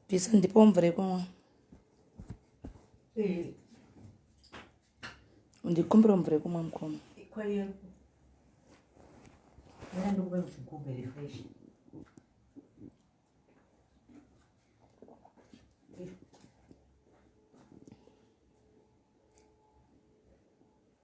Pisa ndipo mvura yekunwa. Eh. Ndikumbira mvura yekunwa mukoma.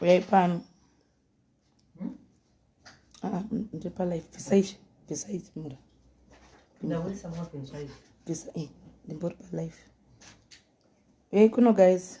uyai pano hmm? ah, ndipalife bvisai bvisai mura eh, ndimbori palife uyai kuno guys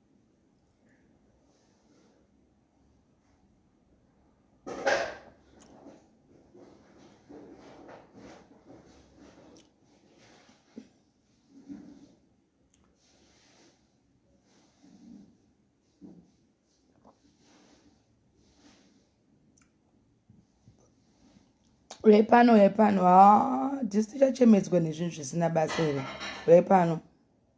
uyai pano uyai pano ha ah, dhisiti chachemedzwa nezvinhu zvisina basa here uyai pano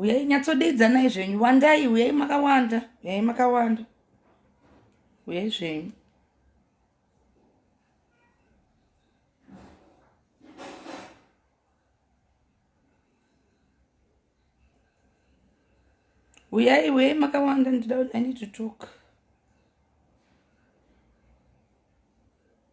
uyai nyatsodeidzanai zvenyu wandai uyai makawanda uyai makawanda uyai zvenyu uyai uyai makawanda ndida i need to talk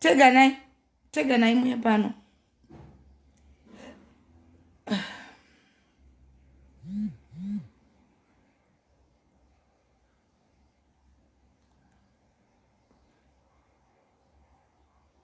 teganai teganai muye pano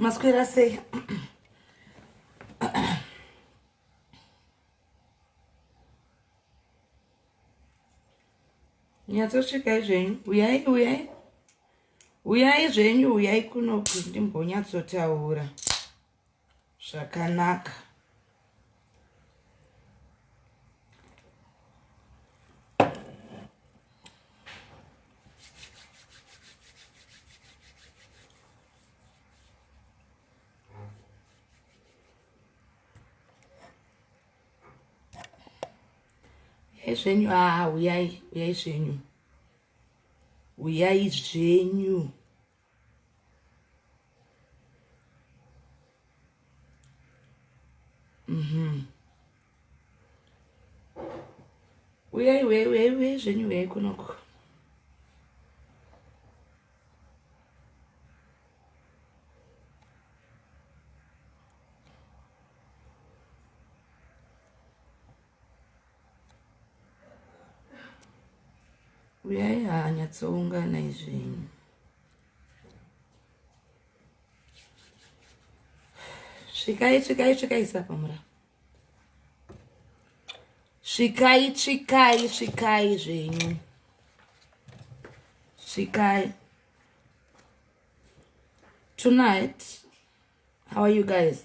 maswera sei nyatsosvikai zvenyu uyai uyai Uyai zvenyu, uyai kuno ndimbonyatsotaura zvakanaka. Uyai zvenyu, ah, uyai, uyai zvenyu. uyai zvenyu mhm uyai uyai uyai uyai zvenyu uyai kunoko uyai hanyatsoungana izvinhu svikai svikai svikai sapamura svikai svikai svikai zvenyu svikai tonight how are you guys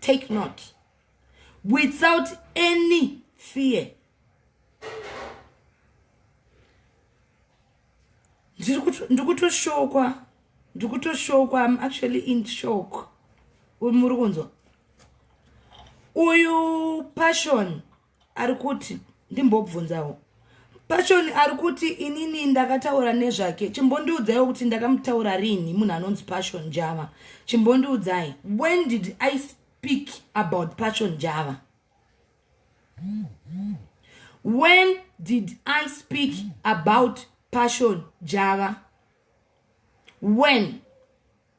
take note without any fear ndikutoshoka ndikutoshoka im actually in shock muri kunzwa uyu passion ari kuti ndimbobvunzawo pashoni ari kuti inini ndakataura nezvake chimbondiudzaiwo kuti ndakamutaura rini munhu anonzi pashon java chimbondiudzai when did i speak about pashon java when did i speak about pashon java when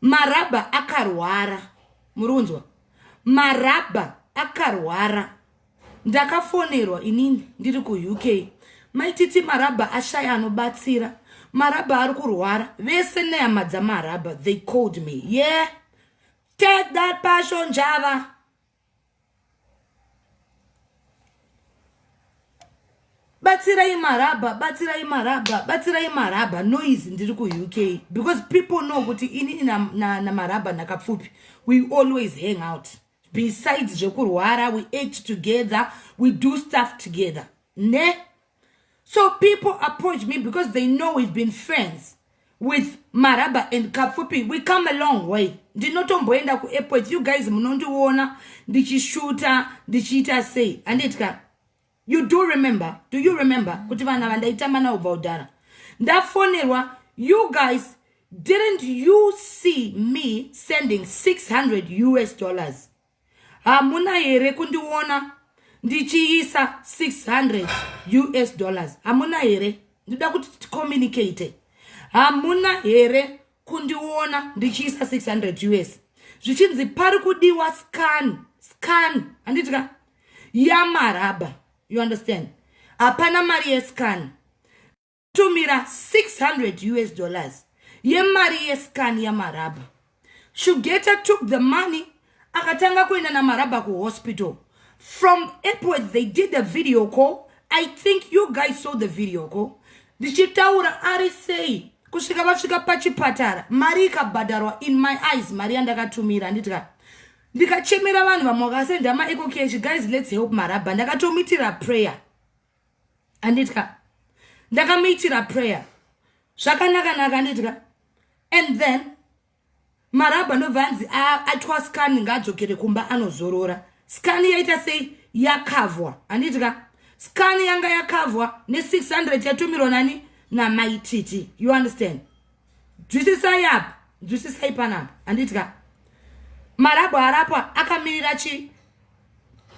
marabha akarwara muri kunzwa marabha akarwara ndakafonerwa inini ndiri kuuk maititi marabha ashaya anobatsira marabha ari kurwara vese nehama dzamarabha they called me ye yeah. take that passion java batsirai marabha batsirai marabha batsirai marabha noise ndiri kuuk because people know kuti inini namarabha ndakapfupi we always hang out besides zvekurwara we ate together we do stuff together ne so people approach me because they know we've been friends with maraba and kapfupi we come along way ndinotomboenda kuairport you guys munondiona ndichishuta ndichiita sei andiitika you do remember do you remember kuti vana vandaitamba navo bva udhara ndafonerwa you guys didn't you see me sending 600 us dollars hamuna here kundiona ndichiisa 600 us dollars hamuna here ndida kuti ticommunicate hamuna here kundiona ndichiisa 600 us zvichinzi pari kudiwa scan scan handitika yamaraba you understand hapana mari yescan tumira 600 us dollars yemari yescan yamarabha shugeta took the money akatanga kuenda namarabha kuhospital from epworth they did the video call i think you guys saw the video call ndichitaura ari sei kusvika vasvika pachipatara mari ikabhadharwa in my eyes mari yandakatumira anditika ndikachemera vanhu vamwe vakasenda maecocash guys let's help marabha ndakatomitira prayer anditya ndakamuitira prayer zvakanaka naka anditya and then marabha anobva anzi atwa scan ngaadzokere kumba anozorora scan yaita sei yakavhwa anditya scan yanga yakavhwa ne600 yatumirwa nani namaititi you understand dzwisisai apa dzwisisai panapa anditika marabho arapwa akamirira chii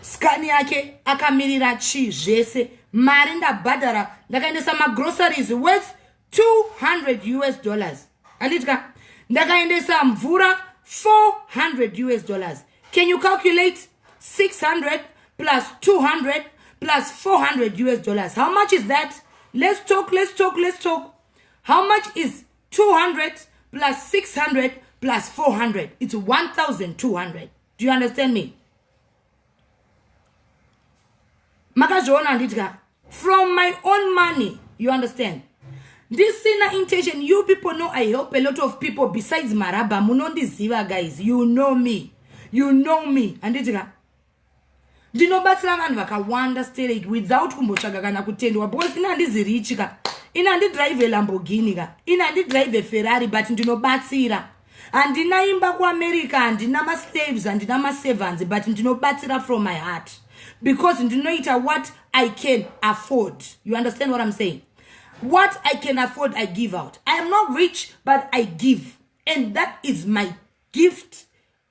skani yake akamirira chii zvese mari ndabhadhara ndakaendesa magroceries worth 200 us dollars anditika ndakaendesa mvura 400 us dollars can you calculate 600 plus 200 plus 400 us dollars how much is that let's talk let's talk let's talk how much is 200 plus 600 plus 400 it's 1200 do you understand me makazviona handitya from my own money you understand ndisina intention you people know i help a lot of people besides marabha munondiziva guys you know me you know me handiti ka ndinobatsira vanhu vakawanda sterek without kumbotsvaga kana kutendwa because ini handizi richi ka ini handidrive lamborghini ka ini handidrive ferrari but ndinobatsira handina imba kuamerica handina maslaves handina maservants but ndinobatsira from my heart because ndinoita what i can afford you understand what i'm saying what i can afford i give out i am not rich but i give and that is my gift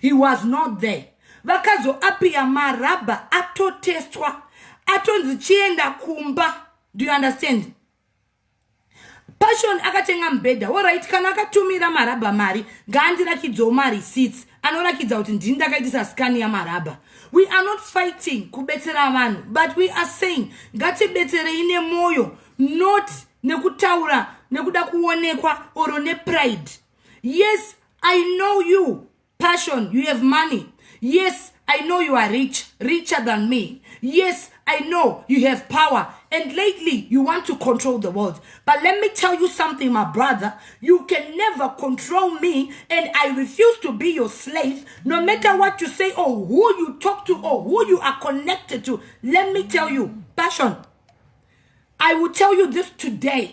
he was not there vakazoapiya marabha atotestwa atonzi chienda kumba do you understand passion akatenga mubhedha orit kana akatumira marabha mari ngaandirakidzawo marecits anorakidza kuti ndini ndakaitisa skani yamarabha we are not fighting kubetsera vanhu but we are saying ngatibetserei nemwoyo not nekutaura nekuda kuonekwa oro nepride yes i know you passion you have money yes i know you are rich richer than me yes i know you have power and lately you want to control the world but let me tell you something my brother you can never control me and i refuse to be your slave no matter what you say or who you talk to or who you are connected to let me tell you passion i will tell you this today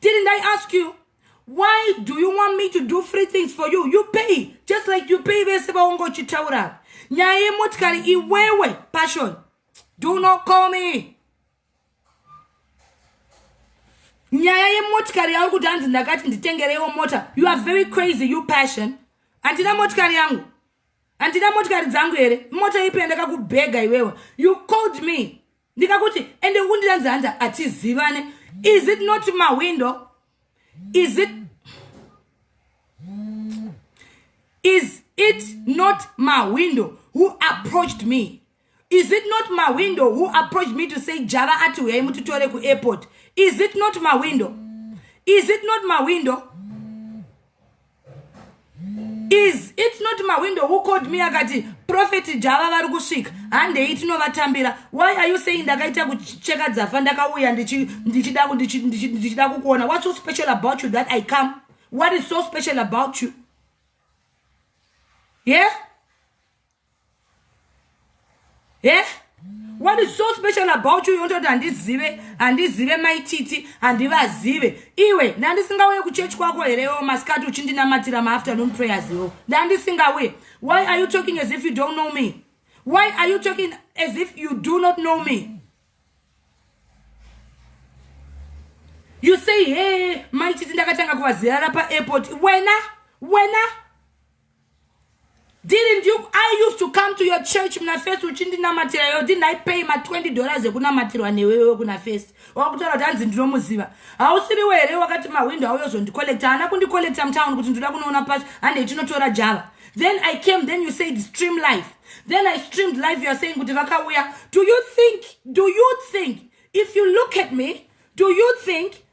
didn't i ask you why do you want me to do free things for you you pay just like you pay vese vaunga uchitaura nyaya yemotikari iwewe passion do not call me nyaya yemotikari yauri kuti hanzi ndakati nditengereiwo mota you are very crazy you passion handina motikari yangu handina motikari dzangu here mota ipi yandakakubhega iwewe you called me ndikakuti ende kundiranzi hanzi hatizivane is it not mawindow is it is it not mawindow who approached me is it not mawindow who approached me to say java ati huyai mutitore kuairport is it not mawindow is it not mawindow is it not mawindow who called me akati profet java vari kusvika handei tinovatambira why are you saying ndakaita kucheka dzafa ndakauya ndichida kukuona what's so special about you that i come what is so special about you yeah he what is so special about you yototi handizive handizive maititi handivazive iwe ndandisingauye kuchechi kwako here yo masikati uchindinamatira maafternoon prayers yo ndandisingauye why are you talking as if you don't know me why are you talking as if you do not know me you say he maititi ndakatanga kuvazirara paairport wena wena Didn't you, I used to come to your church muna first uchindinamatira yo didn't I pay ma 20 dollars ekunamatirwa newewe kuna first wakutaura kuti hanzi ndinomuziva hausiriwe here wakati mahwindo auyozondicollecta haana kundicollecta mutown kuti ndoda kunoona pacho handei tinotora java then i came then you said stream life then i streamed life youare saying kuti vakauya do you think do you think if you look at me do you think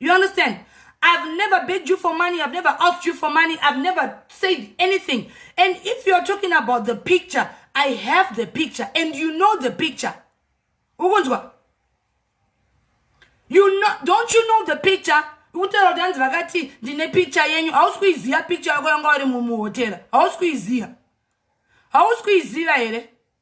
you understand I've never begged you for money. I've never asked you for money. I've never said anything. And if you're talking about the picture, I have the picture and you know the picture. Ukunzwa? You know, don't you know the picture? Utera kuti hanzi vakati ndine picture yenyu hausi kuiziva picture yako yanga uri mumuhotera hausi kuiziva hausi kuiziva here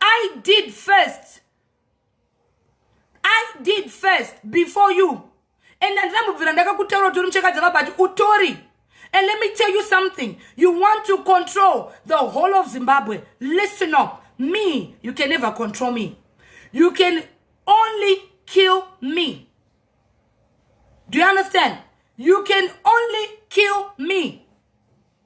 i did first i did first before you and andina mubvira ndakakutaura utori muchekadzi vabati utori and let me tell you something you want to control the whole of zimbabwe listen up me you can never control me you can only kill me do you understand you can only kill me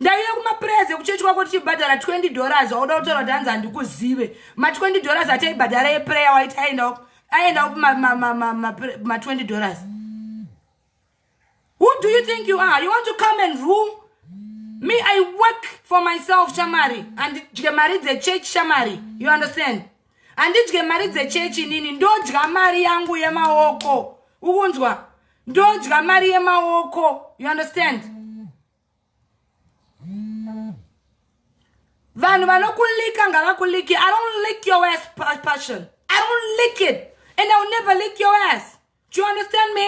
ndaive kumapurezi ekuchechi kwako tichibhadhara 20 dollars wauda kutaura kuti hanzi handikuzive ma20 dollars ataibhadhara eprayer waiti aendawo aendawo ma20 dollars who do you think you are you want to come and rule me i work for myself shamari handidye mari dzechurch shamari you understand handidye mari dzechechi inini ndodya mari yangu yemaoko ukunzwa ndodya mari yemaoko you understand vanhu vanokulika ngavakuliki i don't lick your ass passion i don't lick it and i will never lick your ass do you understand me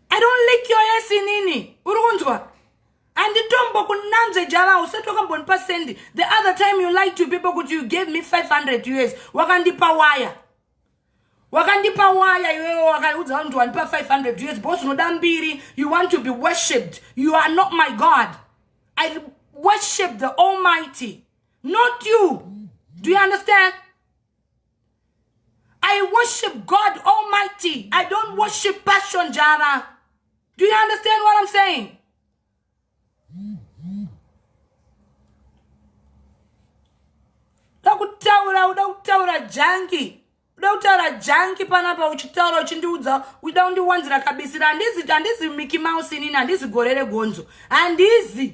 i don't lick your ass inini uri kunzwa anditombo kunanzve java usati wakambonipa sendi the other time you like to people kuti you gave me 500 years wakandipa waya wakandipa waya iwewe wakaudza vanhu kuti wandipa 500 years bos unoda mbiri you want to be worshipped you are not my god i worship the almighty not you do you understand I worship God Almighty. I don't worship passion, Jara. Do you understand what I'm saying? takutaura uda kutaura jangi uda kutaura jangi panapa uchitaura uchindiudza uida kundiwanzira kabisira handizi handizi miki mouse inini handizi gore regonzo handizi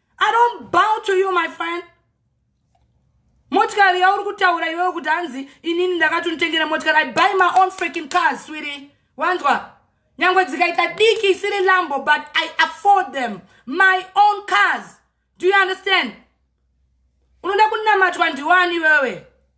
I don't bow to you my friend. Motikari yauri kutaura iwewe kuti hanzi inini ndakatonitengera motikari. I buy my own freaking cars, sweetie. Wanzwa? Nyangwe dzikaita diki isiri lambo but I afford them. My own cars. Do you understand? Unoda kunamatwa ndiwani iwewe?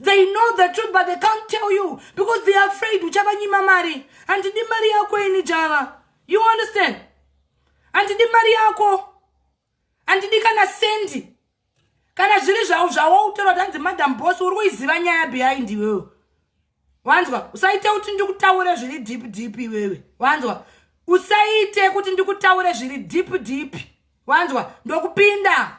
they know the truth but they can't tell you because they are afraid uchavanyima mari handidi mari yako ini java you understand handidi mari yako handidi kana sendi kana zviri zvavo zvawautora kuti hanzi madam bos uri kuiziva nyaya behind iwewe wanzwa usaite kuti ndikutaure zviri deep deep iwewe wanzwa usaite kuti ndikutaure zviri deep deep wanzwa ndokupinda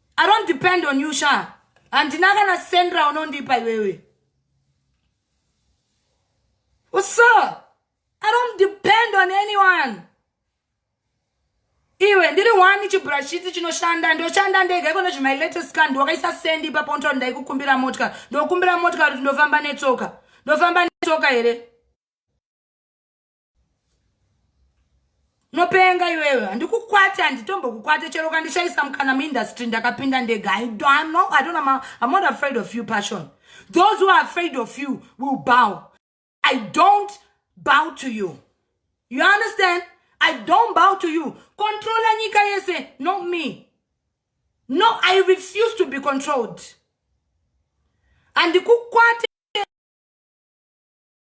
i don't depend on you sha handina kana sendra unondipa iwewe uso i don't depend on anyone iwe ndiri wani chibrashiti chinoshanda ndoshanda ndega iko nezvemai latest car ndiwakaisa sendi ipapo ntoa ndaikukumbira motka ndokumbira motka kuti ndofamba netsoka ndofamba netsoka here unopenga iwewe handikukwate handitombokukwate chero ukandishaisa mukana muindustry ndakapinda ndega i don't know i don't know i'm not afraid of you passion those who are afraid of you will bow i don't bow to you you understand i don't bow to you controlla nyika yese not me no i refuse to be controlled handikukwate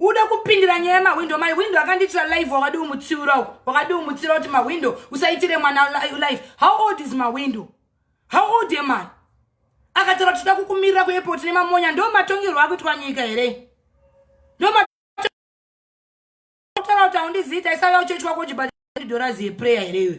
ude kupindira nyaya yemahwindo mahwindo akandiitira live wakadi umutsiura uku wakadi umutsiura kuti mahwindo usaitire mwana live how old is mahwindo how old am i akataura kuti toda kukumirira kuairport nemamonya ndo matongerwo akuitwa nyika here ndo Unotaura kuti haundizivi taisava uchechi wako uchibata dollars yeprayer here iwe?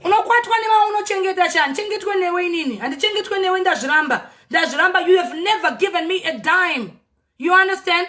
unokwatwa newa unochengeta chani chengetwe newe inini handichengetwe newe ndazviramba ndazviramba you have never given me a dime you understand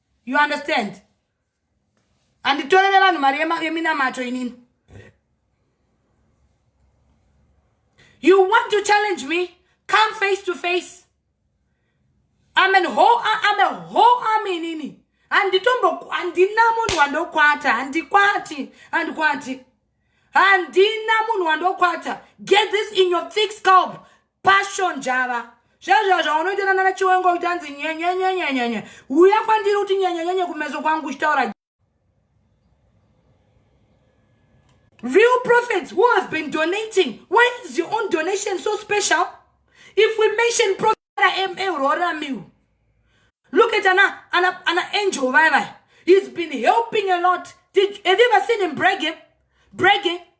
you understand handitorere vanhu mari yeminamato inini you want to challenge me come face to face I'm an whole, I'm a whole army inini handitombo handina munhu wandokwata handikwati handikwati handina munhu wandokwata get this in your thick scalp passion java zvezvo zvaunoita nana chiwengo utanzi nyenyenyenyenyenye uya kwandiri kuti nyenyenyenye kumeso kwangu uchitaura real prophets who has been donating why is your own donation so special if we mention prophet ma uroramiwo look at ana ana ana angel vaya vaya he's been helping a lot Did, have you ever seen him bragging bragging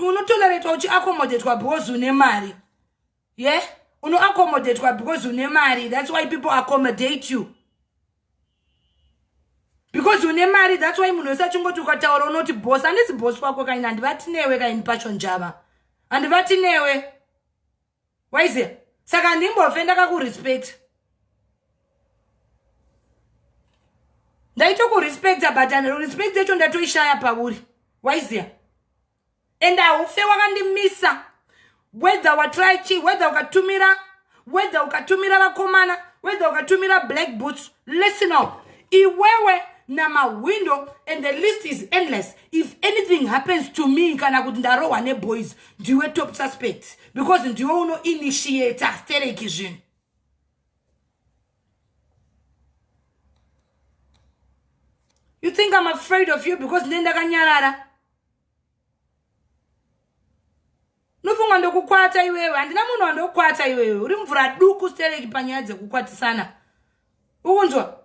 unotoleretwa uchiaccommodatwa because une mari ye yeah? unoaccommodatwa because une mari that's why people accommodate you because une mari that's why munhu wese achingoti ukataura unoti bos handisi bos wako kaini handivati newe kaini pasho njava handivati newe waiziva saka handimbofe ndakakurespecta ndaitokurespecta but respect yacho ndatoishaya pauri waiziva and haufe wakandimisa whether watry chi whether ukatumira whether ukatumira vakomana whether ukatumira black boots listen up iwewe namahwindo and the list is endless if anything happens to me kana kuti ndarohwa neboys ndiwe top suspect because ndiwe uno initiate stereki zvinhu you think i'm afraid of you because ndine ndakanyarara nofunga ndokukwata iwewe handina munhu wandokukwata iwewe uri mvura duku stereki panyaya dzekukwatisana ukunzwa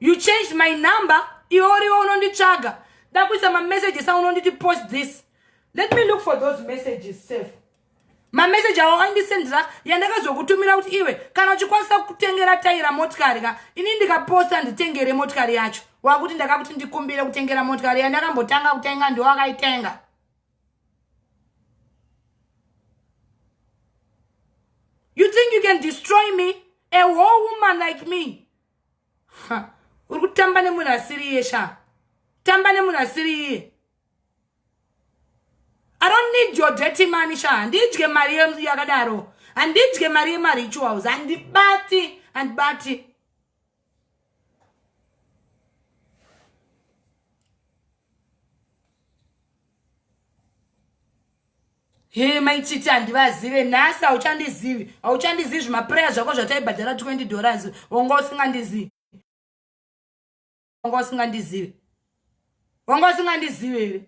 you changed my number iwe uriwe unonditsvaga dakuisa mamessages a unonditi post this let me look for those messages safe mameseji awo aindisendira yandakazokutumira kuti iwe kana uchikwanisa kutengera taira motikari ka ini ndikaposta nditengere motikari yacho wakuti ndakakuti ndikumbire kutengera motikari yandakambotanga kutenga ndiwo akaitenga you think you can destroy me a whole woman like me uri kutamba nemunhu asiri iye sha tamba nemunhu asiri iye i don't need your dirty money sha handidye mari yakadaro handidye mari yemarituals handibati handibati Hee mai chiti handivazive nhasi hauchandizivi hauchandizivi zvimapreya zvako zvataibhadhara 20 dollars wanga usingandizivi wanga usingandizive wanga usingandizive here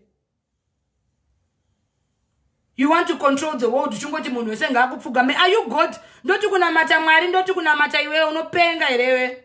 you want to control the world uchingoti munhu wese ngaakupfugame are you god ndoti kunamata mwari ndoti kunamata iwewe unopenga herewe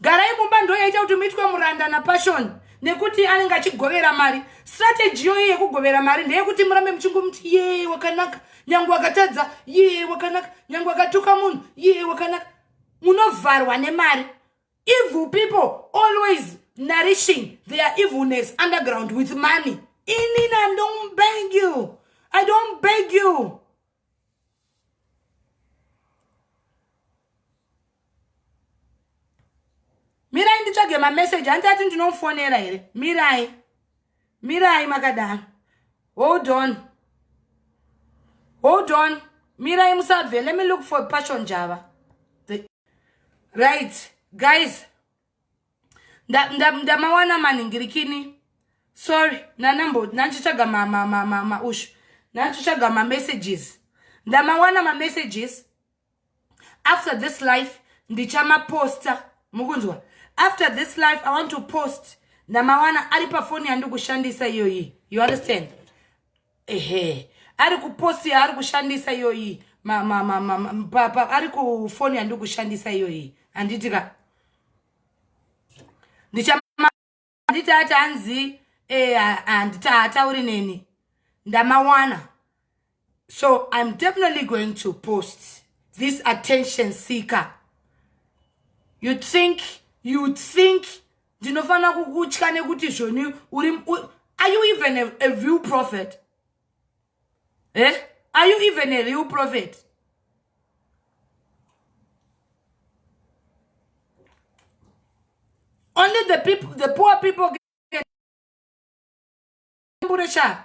garai mumba ndoyaita kuti muitwe muranda napassion nekuti anenge achigovera mari strategy yoyi yekugovera mari ndeyekuti murambe muchingomuti ye wakanaka nyange wakatadza ye wakanaka nyange wakatuka munhu ye wakanaka munovharwa nemari evil people always nourishing their evilness underground with money inina don't beg you i don't beg you mirai nditsvage mameseji hanzi ati ndinomufonera here mirai mirai makadaro hold on hold on mirai musabve let me look for passion java right guys ndamawana manhingirikini sorry nanambo nandichitsvaga maushu nandichitsvaga mamessages ndamawana mamessages after this life ndichamaposta mukunzwa after this life i want to post ndamawana ari pafoni yandikushandisa iyoyi you understand ehe ari kupost yaari kushandisa iyoyi ari kufoni yandiri kushandisa iyoyi handiti ka ndichaanditi ati hanzi eh, handiti haatauri neni ndamawana so im definitely going to post this attention seeker you think you think ndinofanira kukutya nekuti zvoni uri are you even a, a real prophet eh? are you even a real prophet only the people the poor people tambure sha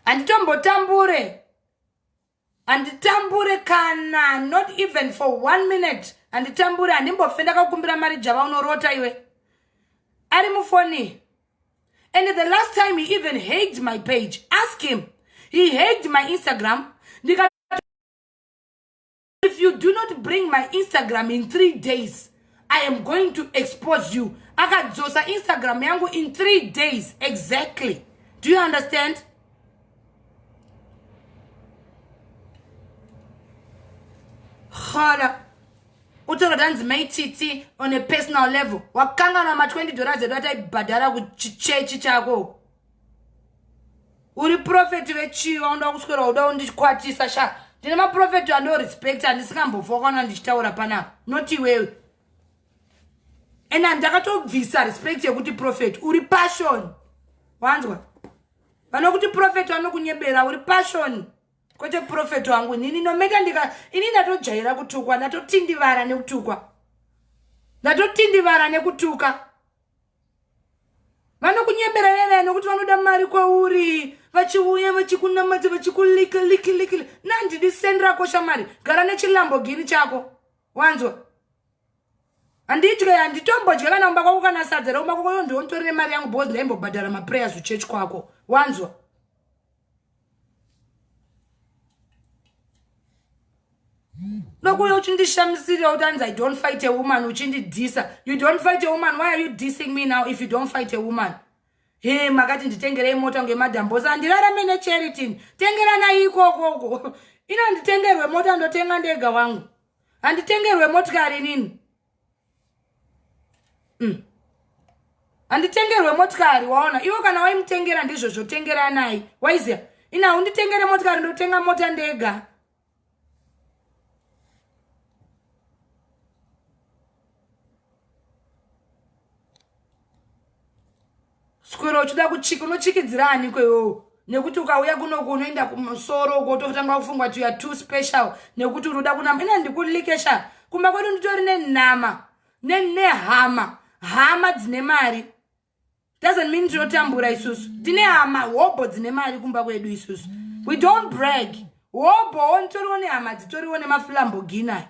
handitombotambure handitambure kana not even for one minute handitambure handimbofe ndakakumbira mari java unorota iwe ari mufoni and the last time he even haged my page ask him he haged my instagram if you do not bring my instagram in three days i am going to expose you akadzosa instagram yangu in three days exactly do you understand hala utaura tanzi mai titi on a personal level wakangana ma 20 dollars edu ataibhadhara kuchichechi chako uri profeti vechii vaonda kuswera uda undikwatisa sha ndine maprofeti andorespect andisingambofa kwana ndichitaura panapa not iwewe and andakatobvisa respect yekuti profeti uri passion wanzwa vanokuti profeti vanokunyebera uri passion kwete profeti wangu nini nometa ndika ini ndatojaira kutukwa ndatotindivara nekutukwa ndatotindivara nekutuka vanokunyebera vevene kuti vanoda mari kwauri vachiuya vachikunamata vachikulika liki liki nandidi sendi rako shamari gara nechilambogini chako wanzwa handitye handitombodya kana kumba kwako kana sadza rekumba kwako yondiwo nditori nemari yangu because ndaimbobhadhara maprayers uchurch kwako wanzwa ndokuuya uchindishamisirira kuti anzi i don't fight a woman uchindidhisa you don't fight a woman why are you dissing me now if you don't fight a woman he makati nditengerei mota kunge madhambosa handirarame necharitin tengeranai ikokoko ino handitengerwe mota ndotenga ndega wangu handitengerwe motikari nini mm. handitengerwe motikari waona ivo kana waimutengera ndizvo zvotengeranai waiziya ina hunditengere motikari ndotenga mota ndega Skwero uchida kuchika unochikidzira ani kwewewo nekuti ukauya kunoku unoenda kumusoro uko utotanga kufungwa kuti youare too special nekuti uri uda kunama ina ndikulikesha kumba kwedu nditori nenama nehama hama dzine mari doesn't mean tinotambura isusu tine hama hobho dzine mari kumba kwedu isusu we don't brag hobhowo nditoriwo nehama dzitoriwo nemafulamboginayo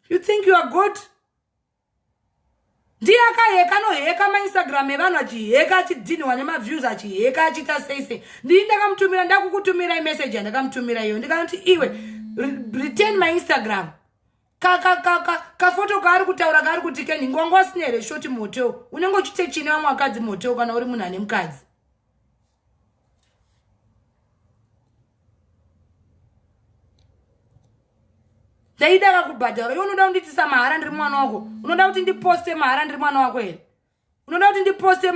you think you are good ndiye akaheka anoheka mainstagram evanhu achiheka achidhinhiwa nemaviews achiheka achiita sei sei ndii ndakamutumira ndakukutumira imeseji yandakamutumira iyo ndikanoti iwe return mainstagram kafoto kaari kutaura kaari kuti keni ngwanga usina here shoti motel unenge uchite chine vamwe vakadzi motel kana uri munhu ane mukadzi ndaidaka kubhadharo iwe unoda kundiitisa mahara ndiri mwana wako unoda kuti ndiposte mahara ndiri mwana wako here unoda kuti ndiposte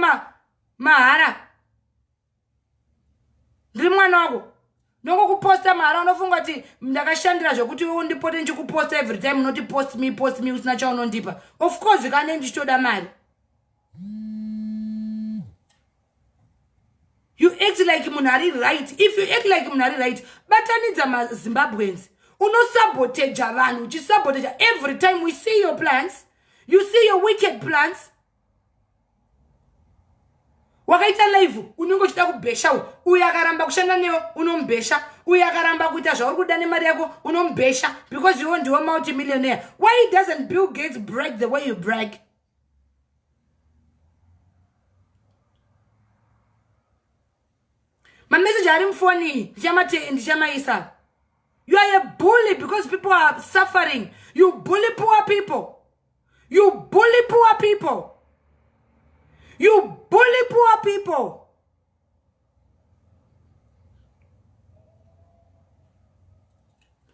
mahara ndiri mwana wako nongokuposta mahara unofunga kuti ndakashandira zvekuti iwe undipote ndichikuposta every time unoti post me post me usina chaunondipa of course kane ndichitoda mari you act like munhu ari right if you act like munhu ari right batanidza mazimbabweans unosaboteja vanhu uchisaboteja every time we see your plans you see your wicked plans wakaita live unenge uchida kubhesha uyo akaramba kushanda newe unomubhesha uyo akaramba kuita zvauri kuda nemari yako unomubhesha because iwo ndiwo multimillionaire why doesn't bill gates break the way you break mameseji ari mufoni ndichamatii ndichamaisa you are a bully because people are suffering you bully poor people you bully poor people you bully poor people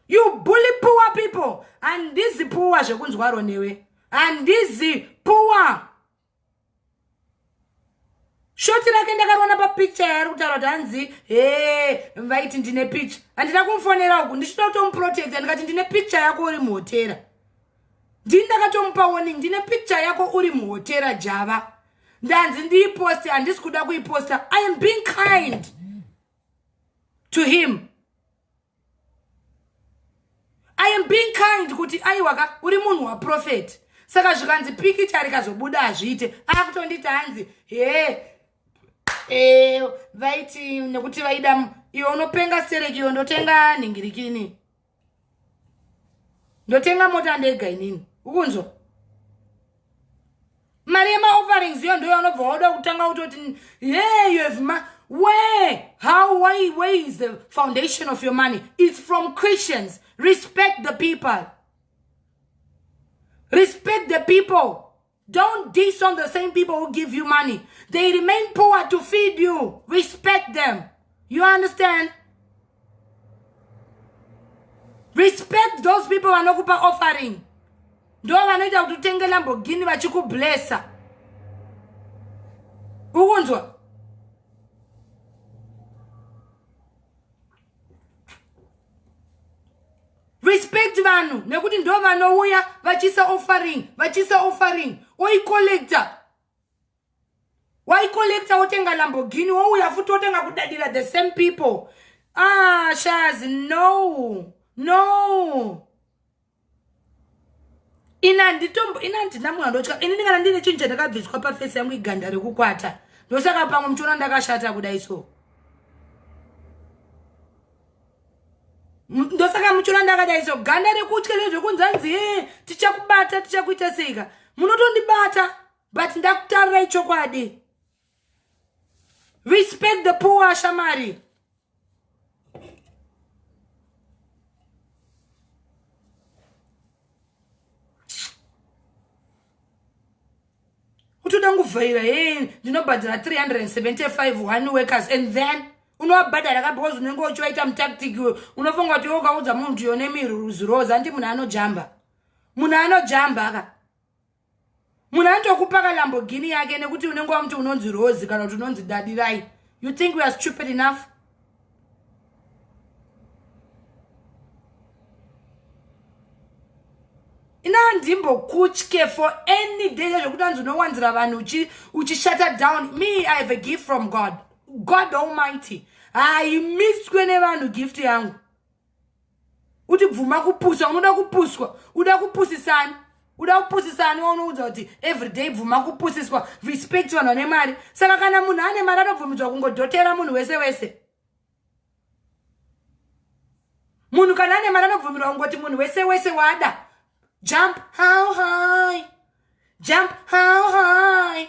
you bully poor people handizi poor zvekunzwaro newe handizi poor shoti rake ndakariona papicture yaari kutaura kuti hanzi he vaiti ndine picture handina kumufonera uku ndichida kutomuprotecta ndikati ndine picture yako uri muhotera ndini ndakatomupa warning ndine picture yako uri muhotera java ndanzi ndiiposte handisi kuda kuiposta i am being kind to him i am being kind kuti aiwaka uri munhu waprofeti saka zvikanzi pikicha rikazobuda hazviite akutonditi hanzi hee e, vaiti nekuti vaida iwe unopenga serekiyo ndotenga nhingirikini ndotenga mota ndega inini ukunzwa mari yemaofferings iyo ndoyo anobva wauda kutanga kutoti hey you have ma where how why where is the foundation of your money it's from christians respect the people respect the people Don't diss on the same people who give you money. They remain poor to feed you. Respect them. You understand? Respect those people vanokupa offering. Ndo vanoita kuti utenge Lamborghini vachikublessa. Ukunzwa? respect vanhu nekuti ndo vanouya vachiisa offering vachiisa offering oicollector waicollector wotenga lambogini wouya futi wotenga kudadira the same people ah shaz no no ini handitombo ini handina munhu andotya ini ndingana ndine chinhu chandakabviswa pafesi yangu iganda rekukwata ndosaka pamwe muchiona ndakashata kudai so ndosaka muchiona ndakadai so ganda rekutya rezvekunzanzi he tichakubata tichakuita seika munotondibata but ndakutarirai chokwadi respect the poor shamari utoda nguvhaira he ndinobhadhara 375 one workers and then unovabhadhara ka because unenge uchivaita mutactic iwe unofunga kuti wokaudza munhu kuti yone miruziroza andi munhu anojamba munhu anojamba ka munhu anotokupa kalambogini yake nekuti unenge wamuti unonzi rozi kana kuti unonzi dadirai you think weare stupid enough inandimbokutye for any day zvekuti anzi unowanzira vanhu uchishata down me i have a gift from god god almighty haimiswe nevanhu gift yangu uti bvuma kupusa unoda kupuswa uda kupusisani uda kupusisani waunoudza kuti everyday bvuma kupusiswa respect vanhu vane mari saka kana munhu ane mari anobvumidzwa kungodhotera munhu wese wese munhu kana ane mari anobvumirwa kungoti munhu wese wese wada jump how high jump how high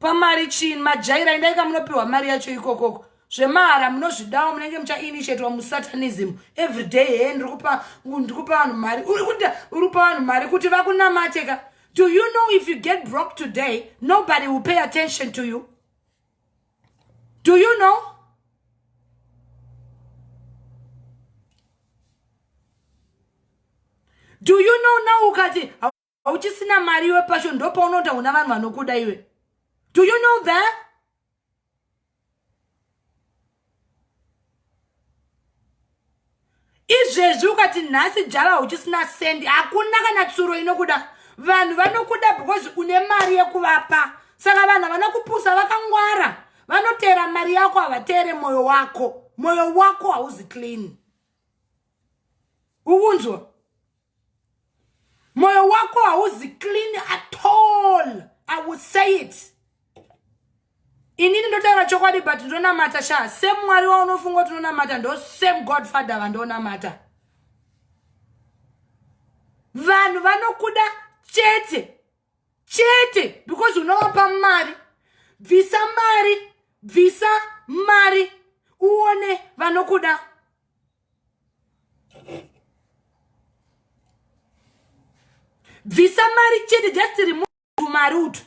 Pamari chin majaira indai kamunopiwa mari yacho ikokoko zvemahara munozvidawo munenge muchainitiatwa musatanism every day hee ndikupa ndikupa vanhu mari uri kuda uri kupa vanhu mari kuti vakunamate ka do you know if you get broke today nobody will pay attention to you do you know do you know now ukati uchisina mari iwe pasho ndopaunoda una vanhu vanokuda iwe do you know that izvezvi ukati nhasi java hauchisina sendi hakuna kana tsuro inokuda vanhu vanokuda because une mari yekuvapa saka vanhu havana kupusa vakangwara vanoteera mari yako havateere mwoyo wako mwoyo wako hauzi clean ukunzwa moyo wako hauzi clean at all i will say it inini ndotaura chokwadi but ndonamata sha same mwari waunofunga kuti unonamata ndo same god father vandonamata vanhu vanokuda chete chete because unovapa mari bvisa mari bvisa mari uone vanokuda bvisa mari chete just remove mari utu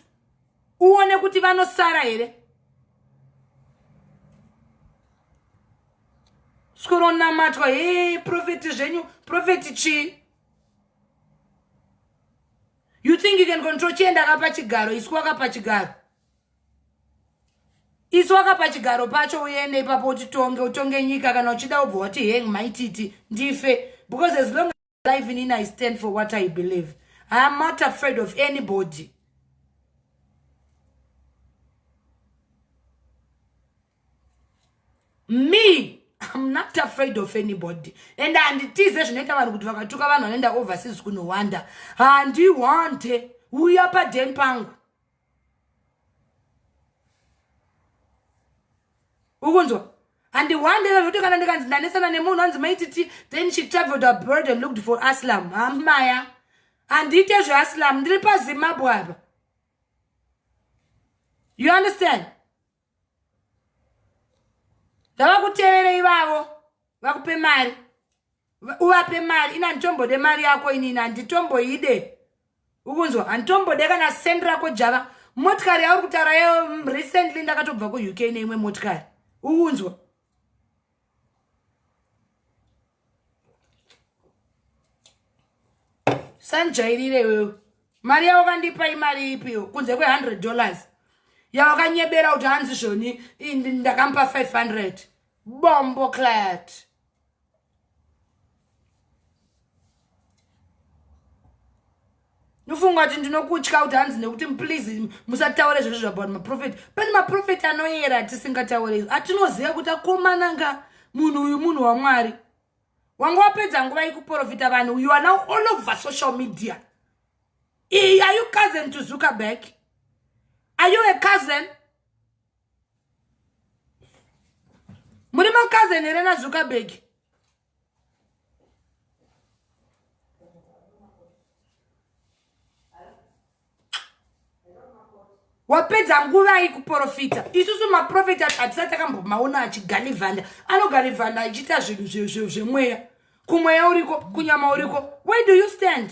uone kuti vanosara here skoronamatwa he profeti zvenyu profeti chii you think you can control chienda akapa chigaro isu wakapa chigaro isu wakapa chigaro pacho uende ipapo utitonge utonge nyika kana uchida ubva wati heng maititi ndife because as long as live inini i stand for what i believe i am not afraid of anybody me I'm not afraid of anybody and handitize zvinoita vanhu kuti vakatuka vanhu vanoenda overseas kunowanda handiwante uya paden pangu ukunzwa and one day vavoti kana ndikanzi ndanesana nemunhu anzi maititi then she traveled abroad and looked for aslam hamaya handiite zveaslam ndiri pazimbabwe apa you understand ngavakutevere ivavo vakupe mari uvape mari ini handitombode mari yako inini handitomboide ukunzwa handitombode kana send rako java motikari yauri kutaura yo recently ndakatobva kuuk neimwe motikari ukunzwa sanjairire iwewe mari yawakandipa imari ipiyo kunze kwe100 dollars yawakanyebera kuti hanzi zvoni ndakampa 500 bombo clat ndofunga kuti ndinokutya kuti hanzi nekuti please musataure zvese zvabaut maprofeti pane maprofeti anoyera atisingataure izvo atinoziva kuti akomananga munhu uyu munhu wamwari wanga wapedza nguva yekuprofita vanhu uyu ana all over social media iyi are you cousin to zuckerberg are you a cousin muri makazeni here nazuckerberg wapedza nguva yi kuprofita isusu maprofita hatisati takambomaona achigalivhanda anogalivhanda achiita zvinhu zvemweya kumweya uriko kunyama uriko where do you stand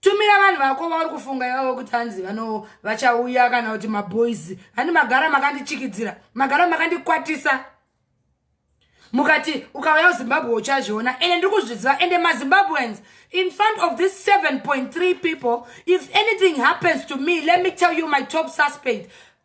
tumira vanhu vako vauri kufunga ivavo kuti hanzi vano vachauya kana kuti maboys handi magara makandichikidzira magara makandikwatisa mukati ukauya kuzimbabwe uchazviona ende ndiri kuzviziva ende mazimbabweans in front of this 7.3 people if anything happens to me let me tell you my top suspect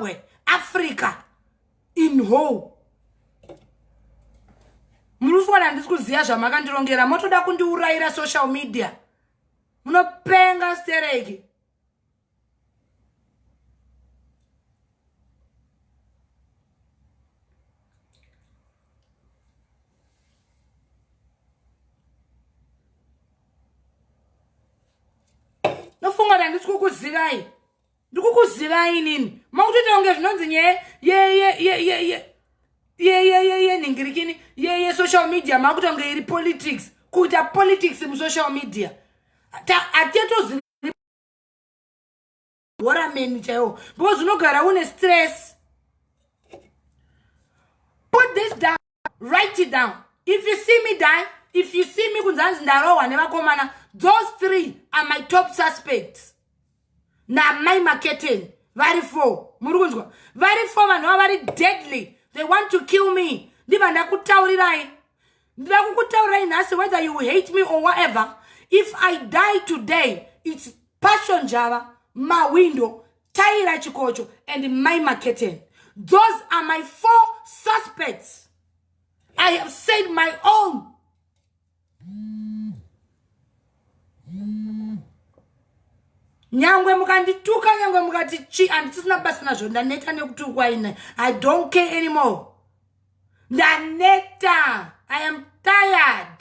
muzimbabwe africa in whole muri kuona handisi kuziva zvamakandirongera motoda kundiurayira social media munopenga stereki nofunga kuti handisi kukuzivai ndikukuzivai inini makutoita kunge zvinonzi nyaya yeyeyeyeyeyeyeyeye nhingirikini yeye social media makuita kunge iri politics kuita politics musocial media hatiyatozi horameni chaiwo because unogara une stress put this down write it down if you see me die if you see me kunzi hanzi ndarohwa nevakomana those three are my top suspects namai maketeni vari four muri kunzwa vari four vanhu vava vari deadly they want to kill me ndiva ndakutaurirai ndida kukutaurirai nhasi whether you hate me or whatever if i die today its passion java mawindo Taira Chikocho and Mai Maketeni. Those are my four suspects. I have said my own. nyangwe mukandituka nyangwe mukati chi handisina basa nazvo ndaneta nekutukwa ine i don't care anymore ndaneta i am tired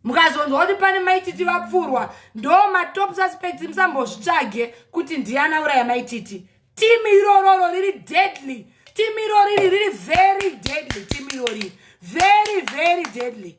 mukazonzwa kuti pane maititi vapfurwa ndo matop suspects musambozvitsvage kuti ndiana uraya maititi timu irororo riri deadly timu iroriri riri very deadly timu iroriri very very deadly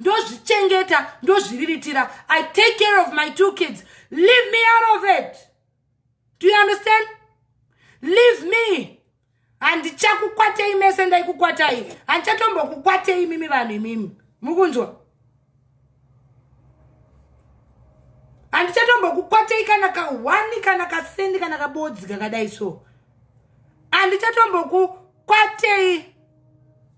ndozvichengeta ndozviriritira i take care of my two kids leave me out of it do you understand leave me handichakukwatei mese ndaikukwatai handichatombokukwatei imimi vanhu imimi mukunzwa handichatombokukwatei kana kahwani kana kasendi kana kabodzi kakadai so handichatombokukwatei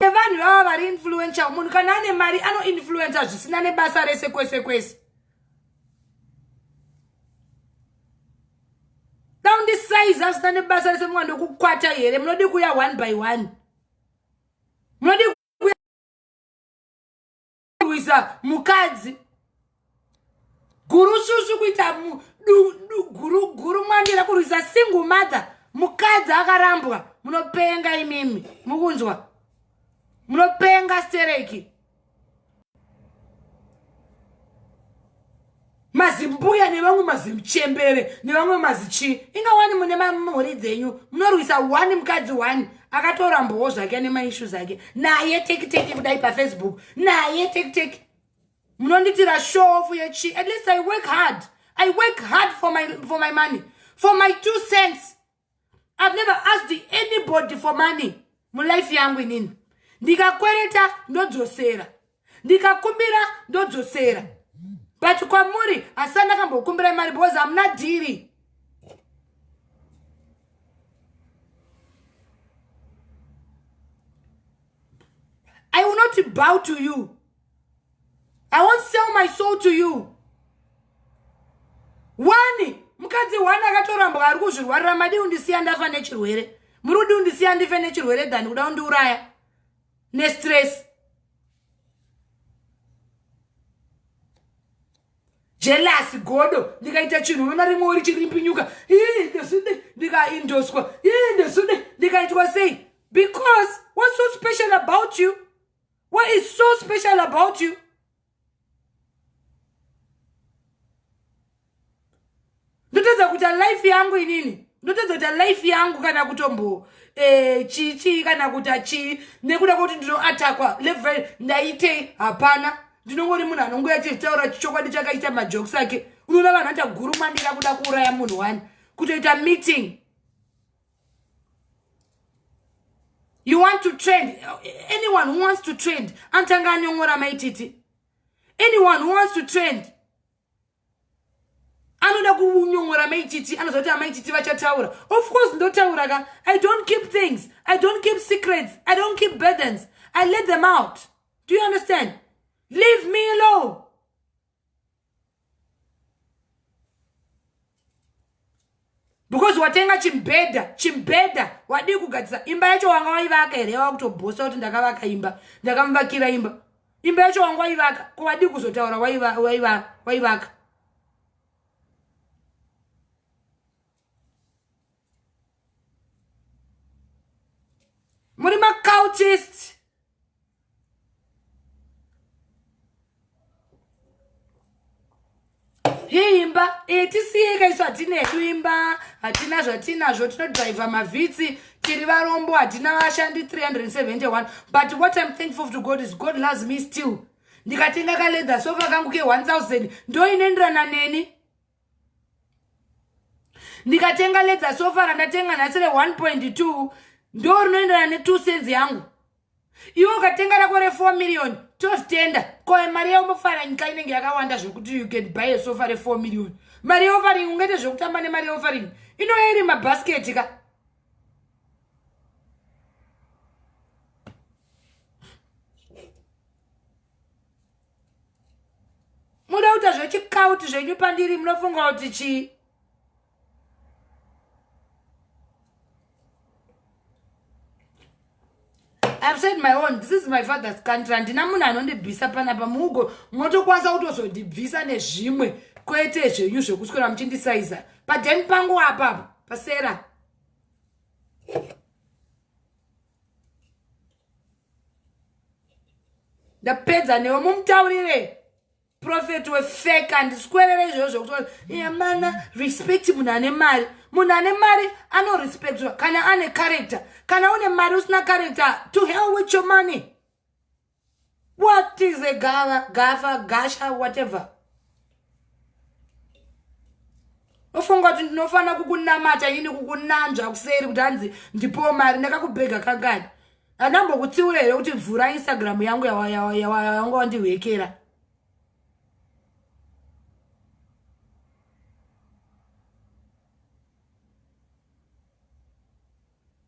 nevanhu vava vari influential munhu kana ane mari anoinfluenca zvisina nebasa rese kwese kwese daundisaizi asina nebasa rese mwana ndokukwata here munodi kuya one by one munodi kurwisa mukadzi gurushushu kuita guru mwandira kurwisa single mother mukadzi akarambwa munopenga imimi mukunzwa munopenga stereki mazimbuya nevamwe mazimchembere nevamwe mazichii inga wani mune mhuri dzenyu munorwisa one mukadzi one akatorambowo zvake ane maishu zake naye tekiteki kudai pafacebook naye tekiteki munonditira shofu yechii at least i work hard i work hard for my, for my money for my two cents i've never asked anybody for money mulife yangu inini ndikakwereta ndodzosera ndikakumbira ndodzosera but kwamuri hasani ndakambokumbira mari because hamuna dhiri i will not bow to you I won't sell my soul to you. Wani, mukadzi wani akatorambwa ari kuzvirwarira madi undisiya ndafa nechirwere. Muri kudi undisiya ndife nechirwere than kuda undiuraya nestress. Jealous godo ndikaita chinhu unoona rimwe uri chirimpinyuka. Ii ndisude ndikaindoswa. Ii ndisude ndikaitwa sei? Because what's so special about you? what is so special about you ndotadza kuita life yangu inini ndotadza kuita life yangu kana kutombo eh, chichi kana kuita chii nekuda kwekuti ndinoatakwa level ndaitei hapana ndinongori munhu anongoya achitaura chichokwadi chake achiita majokes ake unoona vanhu achagurumandira kuda kuuraya munhu wani kutoita meeting you want to trend anyone who wants to trend anotanga anyong'ora maititi anyone who wants to trend anoda kunyong'ora maititi anoziva kuti amaititi vachataura of course ndotaura ka i don't keep things i don't keep secrets i don't keep burdens i let them out do you understand leave me alone because watenga chimbhedha chimbhedha wadii kugadzisa imba yacho wanga waivaka here yava kutobhosa kuti ndakavaka imba ndakamuvakira imba imba yacho wanga waivaka ko wadii kuzotaura waivaka muri macultist yeimba e, tisiyeka isu hatina hedu imba hatina zvatinazvo tinodriver mavhitsi tiri varombo hatina vashandi 371 but what im thankful to god is god loves me still ndikatenga kaleather sofa kangu ke 1000 ndoinenderana neni ndikatenga ledza sofa randatenga nhasi re 1.2 ndo rinoenderana ne two cents yangu iwe ukatenga rako re four million tozitenda koe mari yaumofara nyika inenge yakawanda zvekuti you can buy a sofa re four million mari yeofaring ungaite zvekutamba nemari yeofaring inoya iri mabhasketi ka muda kuita zvechikauti zvenyu pandiri munofunga kuti chii I've said my own. This is my father's country. Handina munhu anondibvisa panapa mugo motokwanisa kutozondibvisa nezvimwe kwete zvenyu zvekuswera muchindisaiza padhen pangu apapo pasera ndapedza newe mumutaurire profeti wefeka ndiswerere izvozvo kuti yamana respect munhu ane mari munhu ane mari anorespectwa kana ane character kana une mari usina character to hell with your money What is a gava, gava, gasha, whatever? ofunga kuti ndinofanira kukunamata ini kukunanzva kuseri kuti hanzi ndipowo mari ndakakubhega kangani andambokutsiura here kuti vhura instagram yangu yawanga wandihwekera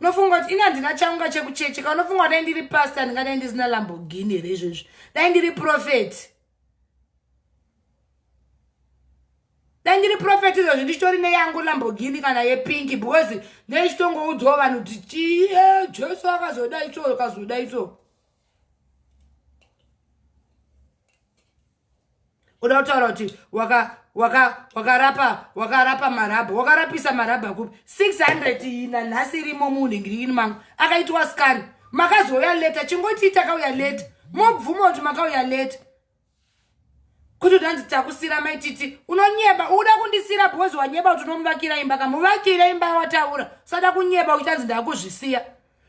unofunga kuti ini handina chaunga chekucheche ka unofunga kuti dai ndiri pasta ndingadai ndisina lambogini here izvozvi dai ndiri profeti dai ndiri profeti izvozvi ndichitori neyangu lambogini kana yepinki because ndechichitongoudzwawo vanhu kuti chii jesu akazodai so akazodai so uda kutaura kuti wakarapa wakarapa marabha wakarapisa marabha kupi 600 iyi nanhasi irimo muunhengirini mangu akaitwa scan makazouya leta chingotii takauya leta mobvuma kuti makauya leta kuti utanzi takusira maititi unonyeba uda kundisira because wanyeba kuti unomuvakira imba kamuvakira imba yawataura usada kunyeba uchitanzi ndakuzvisiya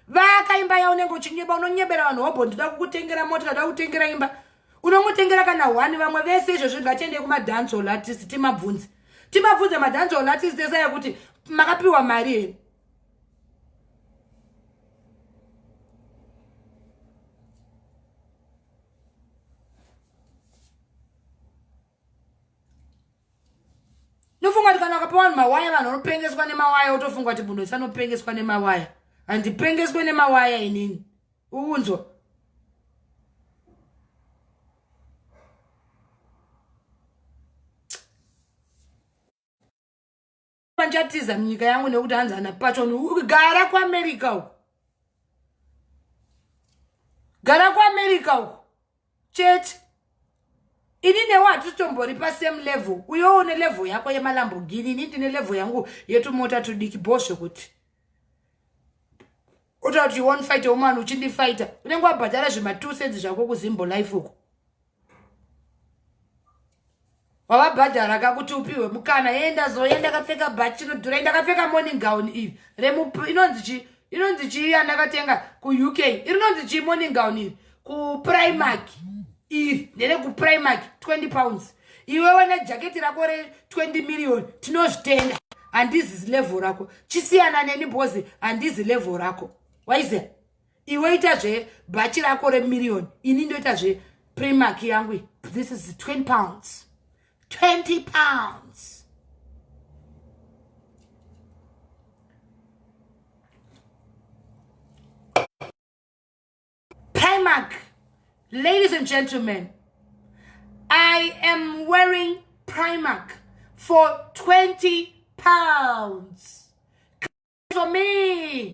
vaka imba ya unenge uchinyeba unonyebera vanhu hobho ndida kukutengera mota kada kutengera imba unongotengera kana one vamwe vese izvo zvinhu ngatiende kumadance all artist timabvunzi timabvunze madance all artist ese yekuti makapiwa mari here ndofunga kuti kana wakapiwa vanhu mawaya vanhu vanopengeswa nemawaya wotofunga kuti munhu wese anopengeswa nemawaya handipengeswe nemawaya inini uunzwa vanchatiza nyika yangu nekuti hanzi ana patson gara kuamerica uku gara kuamerica uku chete ini newe hatitombori pasame level uyewo une level yako yemalambogini ini ndine level yangu yetumota tudiki bo zvekuti otakuti one fight woman uchindifaita unenge wabhadhara zvematusedzi zvako kuzimbo life uku wavabhadhara ka kuti upihwe mukana yee ndazoya ndakapfeka bhachi rinodhura ndakapfeka morning gown iri inonzi chii inonzi chii yandakatenga kuuk irinonzi chii morning gown iri kuprimark iri ndere kuprimark 20 pounds iwewe nejaketi rako re20 million tinozvitenda handizi zilevel rako chisiyana neni bhozi handizi level rako waiziva iwe ita zve bhachi rako remirioni ini ndoita zve primark yangu this is 20 pounds 20 pounds primark ladies and gentlemen i am wearing primark for 20 pounds for me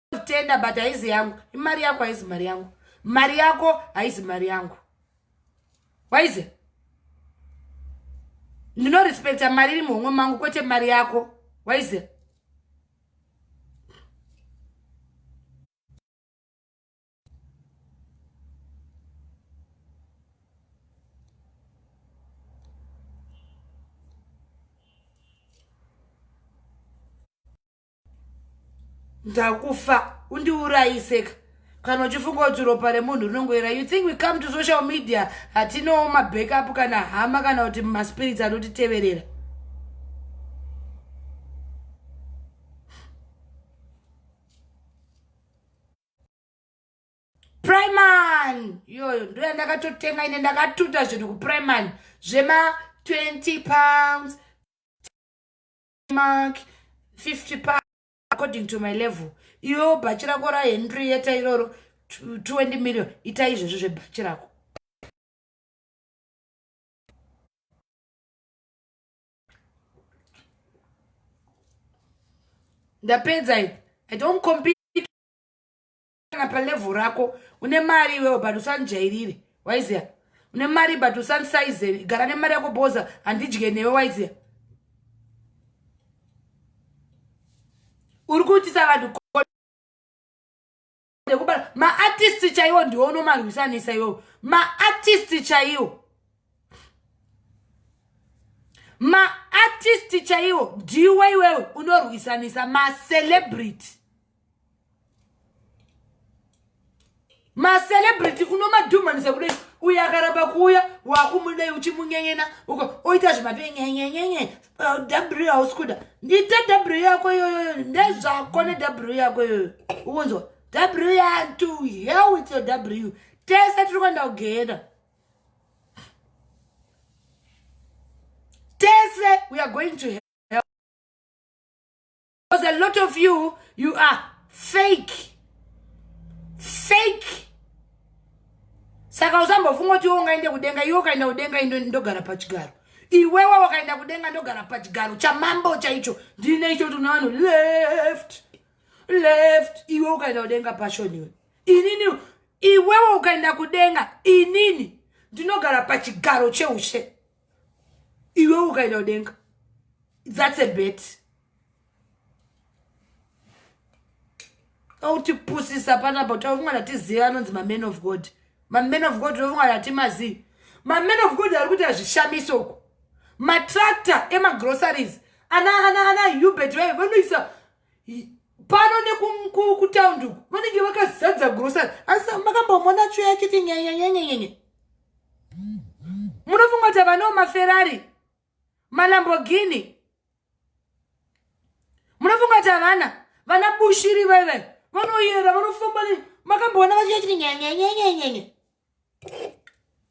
tenda but haizi yangu imari yako haizi mari yangu mari yako haizi mari yangu waize ndinorespecta mari iri muhomwe mangu kwete mari yako waize ndakufa undiurayiseka kana uchifunga kuti ropa remunhu rinongoera you think we come to social media hatinowo mabackup kana hama kana kuti maspirits anotiteverera priman iyoyo ndo yandakatotenga ine ndakatuta zvinhu kupriman zvema 20 pounds mark 50 pa according to my level iwewo bhachi rako rahenrieta iroro 20 million ita izvezvi zvebhachi rako ndapedza i don't compete kana palevel rako une mari iwewe but usandijairire waiziya une mari but usandisaizere gara nemari yako boza handidye newe waiziya uri kuitisa vanhu kubara maartisti chaiwo ndiwo unomarwisanisa iwowo maartisti chaiwo maartisti chaiwo ndiwe iwewe unorwisanisa macelebrity macelebrity unomadhumanisa kudai uyo akaramba kuuya wakumudai uchimunyenyena uko oita zvimapenyenyenyenye w hausi kuda ndiite w yako iyoyoyo ndezvako ne w yako iyoyo ukunzwa w yantu hell with your w tese tiri kuenda kugehena tese we are going to hell. because a lot of you you are fake fake saka usambofunga kuti iwe ungaende kudenga iwe ukaenda kudenga indo ndogara pachigaro iwewe wakaenda kudenga ndogara pachigaro chamambo chaicho ndine icho tuna vanhu left left iwe ukaenda kudenga pashoniwe inini iwewe ukaenda kudenga inini ndinogara pachigaro cheushe iwe ukaenda kudenga that's a bet autipusisa panapa kuti avunga ndatiziva anonzi maman of god maman of god ovunga ndatimazii maman of god ari kuita zvishamiso uku matractor emagroceries ana ana ana hubert vaye vanoisa pano nekutaundi uku vanenge vakazadza grocery asi makambomona tsvo yachiti nyenyenyenyenyenye munofunga kuti havanawo maferari malambogini munofunga kuti havana vana bushiri vaive vanoyera vanofamba makamboona vachiti nyenyenyenyenyenye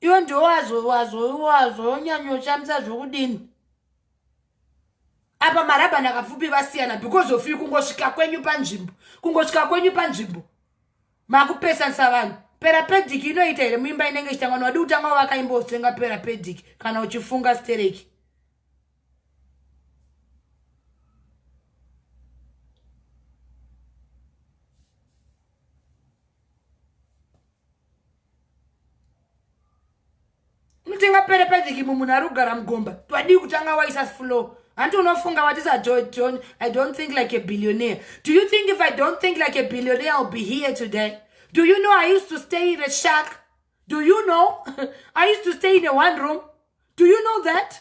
iwe ndowazonyanyoshamisa zvokudini apa marabhani akapfupi vasiyana because of you kungosvika kwenyu panzvimbo kungosvika kwenyu panzvimbo makupesanisa vanhu perapedic inoita here muimba inenge ichitangwa nowadi kutanga wavakaimba usenga perapedic kana uchifunga stereki mutenga pere pediki mumunhu ari kugara mugomba twadii kutanga waisa flow hanti unofunga what is i don't, i don't think like a billionaire do you think if i don't think like a billionaire i'll be here today do you know i used to stay in a shack do you know i used to stay in a one room do you know that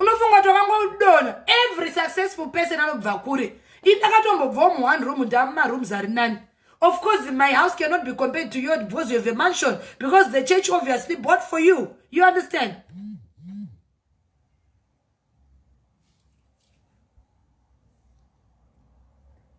unofunga kuti wakangoudono every successful person anobva kure indakatombobvawo muone room ndamumarooms ari nani of course my house cannot be compared to your because you have a mansion because the church obviously bought for you you understand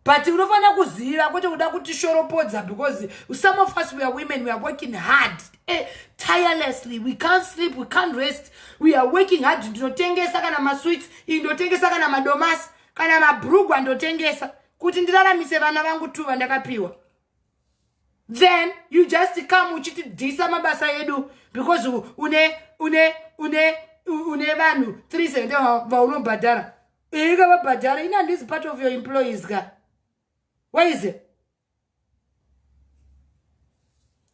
but unofanira kuziva kwete kuda kutishoropodza because some of us weare women weare working hard eh, tirelessly we can't sleep we can't rest weare working hard ndinotengesa kana masweets ii ndotengesa kana madomasi kana mabrugwa ndotengesa kuti ndiraramise vana vangu two vandakapiwa then you just come uchitidhisa mabasa edu because une une une une vanhu 370 vaunobhadhara ika vabhadhara ina this part of your employees ka why is it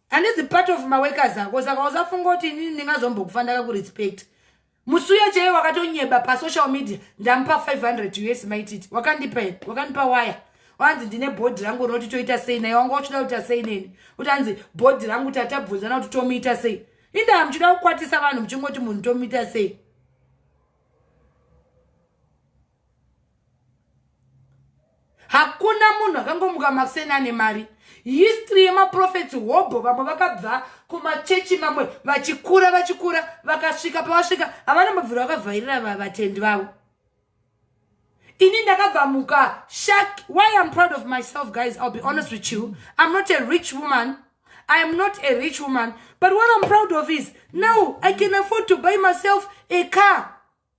and this part of maworkers ako saka usafunga kuti inini ndingazombokufa ndakakurespect musi uya chaiye wakatonyeba pasocial media ndamupa 500 us maititi wakandipa here wakandipa waya wanzi ndine bhodhi rangu rinoti toita sei naye wanga uchida kuita sei neni kuti hanzi bhodhi rangu tatabvunzana kuti tomuita sei indaa muchida kukwatisa vanhu muchingoti munhu tomuita sei hakuna munhu akangomuka makuseni ane mari history yemaprofets hobho vamwe vakabva kumachechi mamwe vachikura vachikura vakasvika pavasvika havana mabviro vakavhairira vatendi vavo ini ndakabva muka shak why iam proud of myself guys ill be honest with you iam not a rich woman I am not a rich woman, but what I'm proud of is now I can afford to buy myself a car.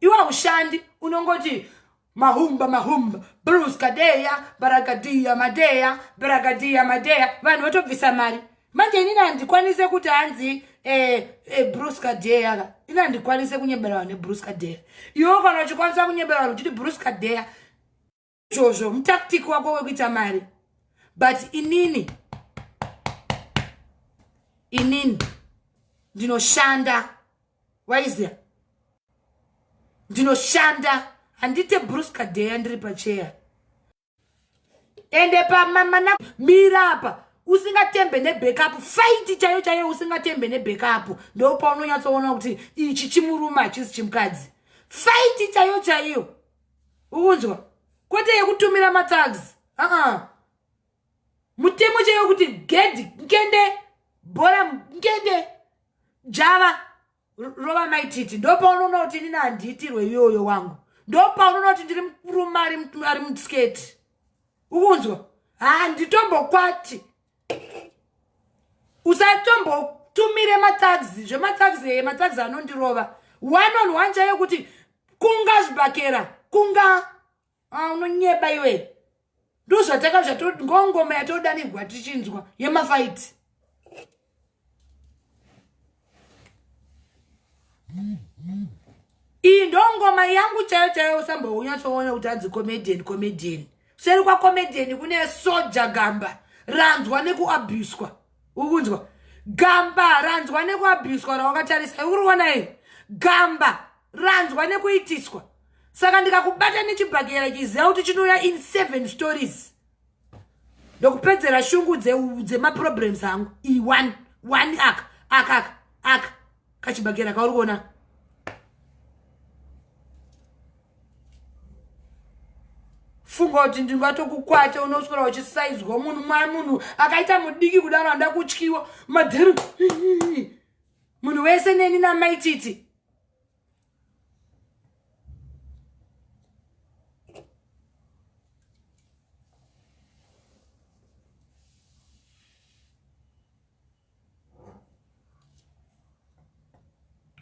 iwe haushandi unongoti mahumba mahumba bruce kadeya baragadiya madeya baragadiya madeya vanhu votobvisa mari manje inini handikwanise kuti hanzi eh, eh, bruce kadeya ka ini handikwanise kunyebera vanhu nebruce kadeya iwe kana uchikwanisa kunyebera vanhu uchiti bruce kadeya izvozvo mutactic wako wekuita mari but inini inini ndinoshanda waizia ndinoshanda handite bruce kadeya ndiri pacheya ende pamamana mira apa usingatembe nebackup faiti chaiyo chaiyo usingatembe nebackup ndo paunonyatsoona kuti ichi chimurume hachisi chimukadzi faiti chaiyo chaiyo ukunzwa kwete yekutumira mathags aa uh -uh. mutemo chaiwo kuti gedhi nkende bhora nkende java rova maititi ndopaunoona kuti inini handiitirwe iyoyo wangu ndopaunoona kuti ndiri murume ari musketi ukunzwa handitombokwati usatombotumire mataxi zvemataxi eye mataxi anondirova one on one chaiyo kuti kunga zvibhakera kunga ah, unonyeba iwe ndozvataka zvatongongoma yatodanirwa tichinzwa yemafaiti iyi ndongoma yangu chaiyo chaiyo usambounyatsoona kuti anzi comedian comedian seri kwacomedian kune soja gamba ranzwa nekuabuswa ukunzwa gamba ranzwa nekuabuswa rawakatarisa uriona here gamba ranzwa nekuitiswa saka ndikakubata nechibhakera chiziva kuti chinouya in seven stories ndokupedzera shungu dzemaproblems dze angu ione one aka aka aka aka kachibhakera kauri kuona funga kuti ndingatokukwata unoswera uchisaizwa munhu mwai munhu akaita mudiki kudaro handa kutyiwa madhero munhu wese neni namaititi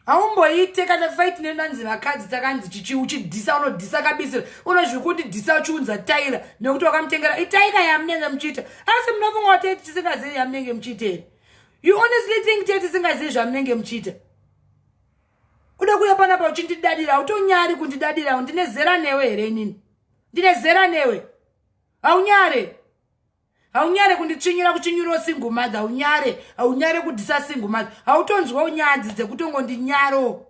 haumboite kana fight nenanzi vakadzi takanzi chichi uchidhisa unodhisa kabisira unozvi kundidhisa uchiunza taira nekuti wakamutengera itaira yamunenge muchiita asi munofunga kuti tete tisingazivi yamunenge muchiita here you honestly think tete tisingazivi zvamunenge muchiita uda kuya panapa uchindidadira utonyari kundidadira ndine zera newe here inini ndine zera newe haunyare haunyare kunditsvinyira kuchinyurawo single mother haunyare haunyare kudisa single mother hautonzwawo nyadzi dzekutongondinyaro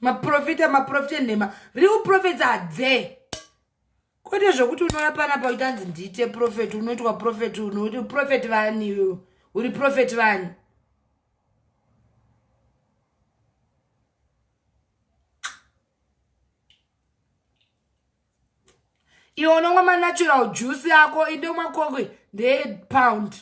maprofita maprofita enhema real prophets are there kwete zvekuti unouya panapa uchitanzi ndiite profeti unoitwa profeti unoti profeti vani iwe uri profeti vani iwe unomwa manatural juice yako indomwa kokwe ndeyepound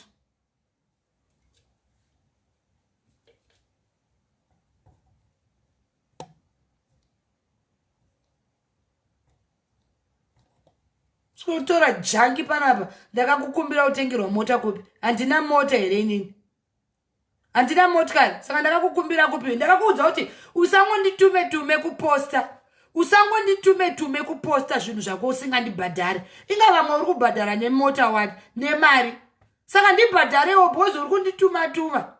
sikutora jangi panapa ndakakukumbira kutengerwa mota kupi handina mota here inini handina motikari saka ndakakukumbira kupi ndakakuudza kuti usangonditume tume kuposta usangonditume tume kuposta zvinhu zvako usingandibhadhari inga vamwe uri kubhadhara nemota wani nemari saka ndibhadharewo bhozi uri kundituma tuma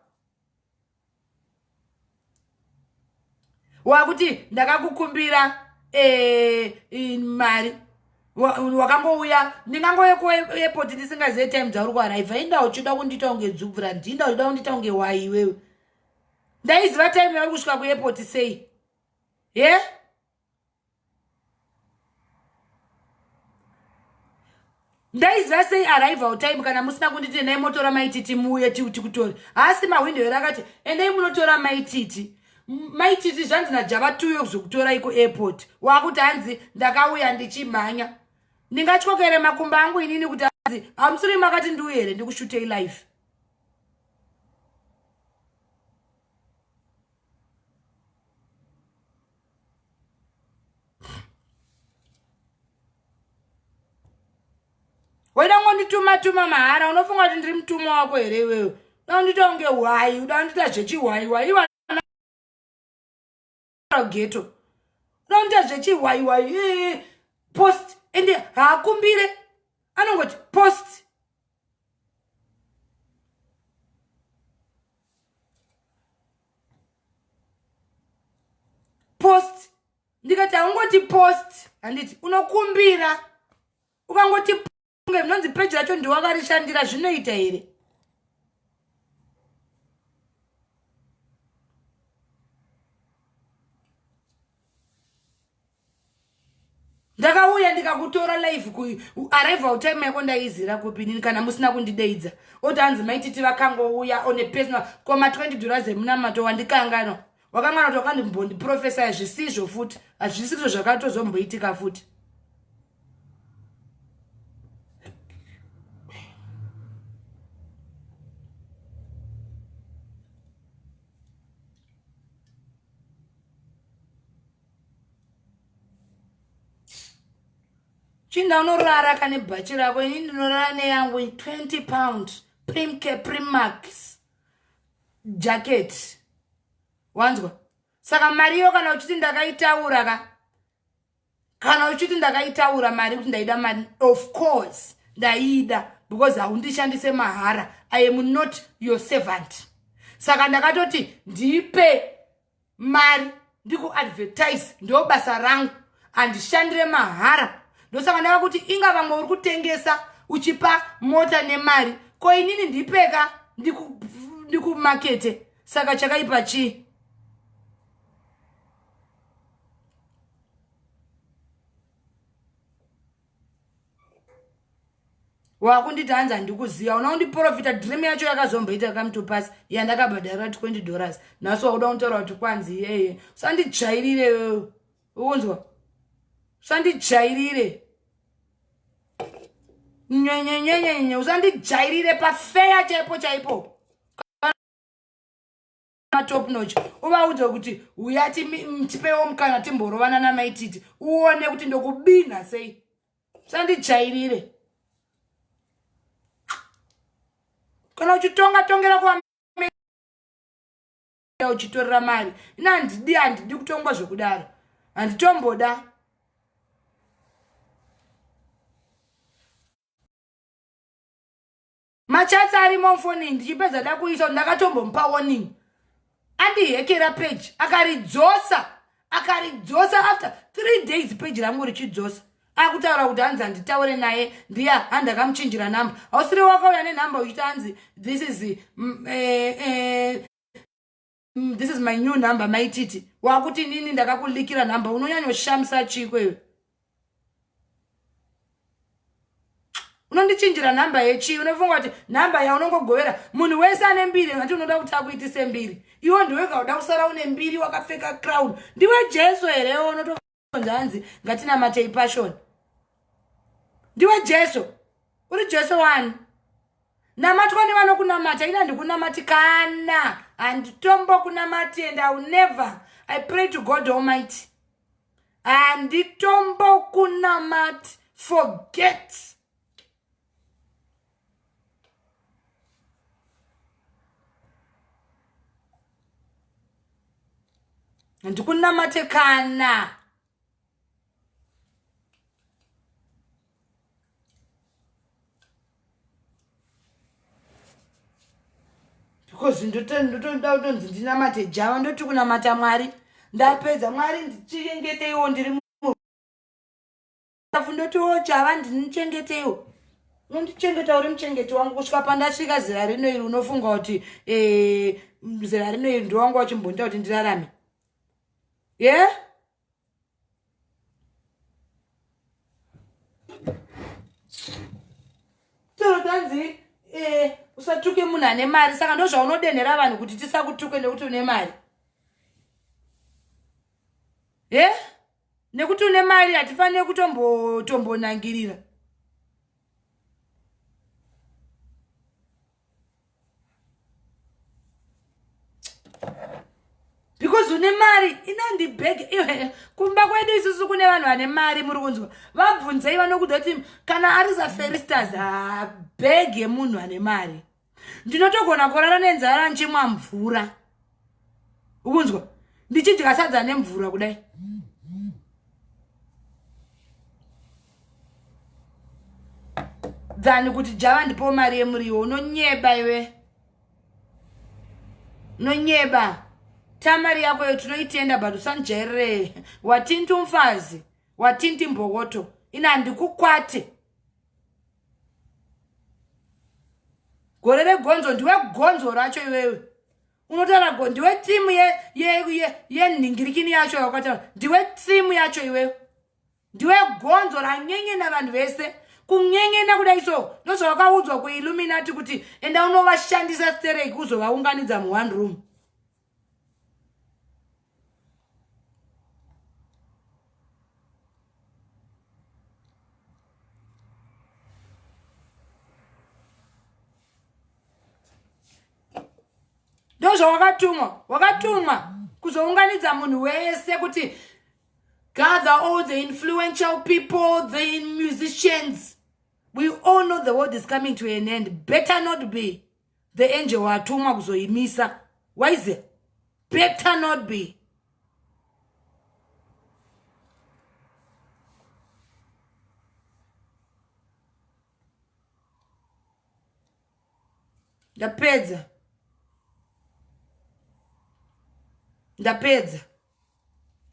wakuti ndakakukumbira eh, mari wakambouya ndingangouya kuairport ndisingazive time dzauri kuaraiva inda uchida kundita kunge dzubvu randi inda uchida kundita kunge wai iwewe ndaiziva time yauri kusvika kuairport sei ye yeah? ndaiziva sei arrival time kana musina kunditi endai motora maititi muuye tikutore haasi mahwindo here akati endai munotora maititi maititi zvanzi najava tuyo kuzokutorai kuairport wakuti hanzi ndakauya ndichimhanya ndingatyokere makumba angu inini kuti anzi hamusiri makati ndiuye here ndikushutei life weda ngondituma tuma mahara unofunga kuti ndiri mutuma wako here iwewe uda kundita kunge hwayi uda kundita zvechihwayiwayi iwanageto uda kundita zvechihwayiwayi post ende haakumbire anongoti post post ndikati haungoti post handiti unokumbira ukangoti kunge zvinonzi peji racho ndiwakarishandira zvinoita here ndakauya ndikakutora live kuarrival time yako ndaizira kupinini kana musina kundideidza oti hanzi maititi vakangouya one personal koma 20 dura zemunamato wandikanganwa wakangana kuti wakandimbondiprofesa hazvisizvo futi hazvisizvo zvakatozomboitika futi chinda unorara kane bhachi rako ini ndinorara neyangu 20 pound primke primax jacket wanzwa saka mari iyo kana uchiti ndakaitaura ka kana uchiti ndakaitaura mari kuti ndaida mari of course ndaida because haundishandise mahara i am not your servant saka ndakatoti ndipe mari ndikuadvertise ndo basa rangu handishandire mahara ndosaka ndava kuti inga vamwe uri kutengesa uchipa mota nemari ko inini ndipeka ndikumakete saka chakaipa chii wakunditi hanzi handikuziva una undiprofita dream yacho yakazomboita come to pass yandakabhadhara 20 dollars nhasi wakuda kutaura kuti kwanzi iyeye usanditsvairire iwewe ukunzwa usanditsvairire nyenyenyenyenye usanditsvairire pafeya chaipo chaipo matop notch uvaudze kuti uya tipewo mukana timborovana namaititi uone kuti ndokubinha sei sandijairire kana uchitonga tongera kwa uchitorera mari ina handidi handidi kutongwa zvekudaro handitomboda machats arimo mfoni ndichipedza dakuisa ndakatombomupa warning andihekera page akaridzosa akaridzosa after three days page rangu richidzosa akutaura kuti hanzi handitaure naye ndiya handakamuchinjira number hausiri wakauya nenumber uchiti hanzi this is mm, eh, eh, mm, this is my new number maititi wakuti nini ndakakulikira number unonyanyoshamisa chiko iwe unondichinjira nhamba yechii unofunga kuti nhamba yaunongogovera munhu wese ane mbiri ngati unoda kuti akuitise mbiri iwo ndiwega uda kusara une mbiri wakapfeka crown ndiwe jesu here unoto zvanzi ngatinamatei passion ndiwe jesu uri jesu wani namatwa nevanokunamata ini handikunamatikana handitombo kunamati and iw never i pray to god almighty handitombo kunamati forget ndikunamate kana because ndotoda kutonzi ndinamate java ndoti kunamata mwari ndapedza mwari ndichiyengeteiwo ndiri ndabvu ndoti o oh, java ndinichengetewo unondichengeta uri muchengeti wangu kusvika pandasvika zera rino iri unofunga kuti eh, zera rino iri ndowanga wachimbonita kuti ndirarame ye yeah? torotanzi eh, usatuke munhu ane mari saka ndo zvaunodenhera vanhu kuti tisakutuke nekuti une mari ye yeah? nekuti une mari hatifanire kutombonangirira tombo because une mari inandi bag iwe kumba kwedu isusu kune vanhu vane mari muri kunzwa vabvunzei vanokuda kuti kana ari zaferistas ha bag yemunhu ane mari ndinotogona kurara nenzara ndichimwa mvura ukunzwa ndichidya sadza nemvura kudai than kuti java ndipo mari yemuriwo unonyeba iwe unonyeba tamari yako yo tinoitenda but usanjairire watinti umfazi watinti mbokoto ini handikukwate gore regonzo ndiwe gonzo racho iwewe unotaura go ndiwe timu yenhingirikini yacho yakataura ndiwe timu yacho iwewe ndiwe gonzo ranyengena vanhu vese kunyengena kudai so ndozvavakaudzwa kuilluminati kuti enda unovashandisa stereki uzovaunganidza muone room ndozvawakatumwa wakatumwa kuzounganidza munhu wese kuti gather all the influential people the musicians we all know the world is coming to an end better not be the angel watumwa kuzoimisa wise better not be ndapedza ndapedza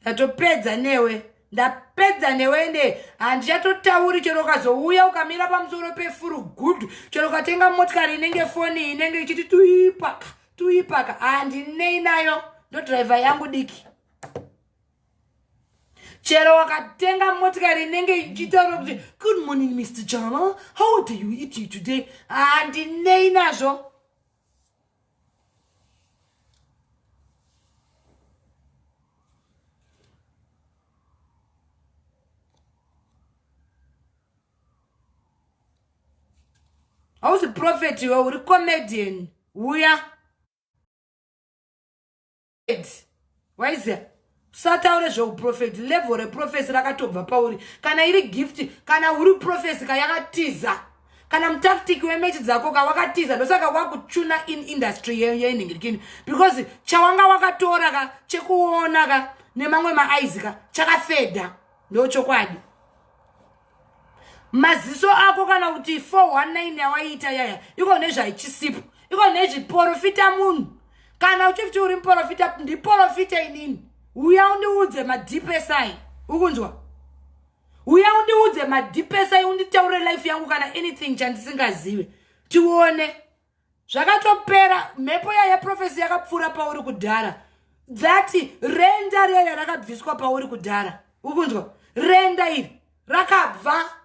ndatopedza newe ndapedza newe ende handichatotauri chero ukazouya ukamira pamusoro pefuru gudhu chero ukatenga motikari inenge foni inenge ichiti tuipaka tuipaka handinei nayo ndodhiraivha yangu diki chero wakatenga motikari inenge ichitaura kuti good morning mr jama how do you eat you today handinei nazvo hausi profeti iwe uri comedian uya waiziva usataure zveuprofeti level reprofesi rakatobva pauri kana iri gift kana uri profesi ka yakatiza kana mutactic wemechi dzako ka wakatiza ndosaka wakuchuna in industry yenhingirikini because chawanga wakatora ka chekuona ka nemamwe maaizi ka chakafedha ndochokwadi maziso ako kana kuti 419 yawaiita yaya iko nezvaichisipo iko nezviporofita munhu kana uchifti uri muporofita ndiporofita inini uya undiudze madipesai ukunzwa uya undiudze madipesai unditaure life yangu kana anything chandisingazive tione zvakatopera mhepo yaya profesi yakapfuura pauri kudhara dzati renda riyaya rakabviswa pauri kudhara ukunzwa renda iri rakabva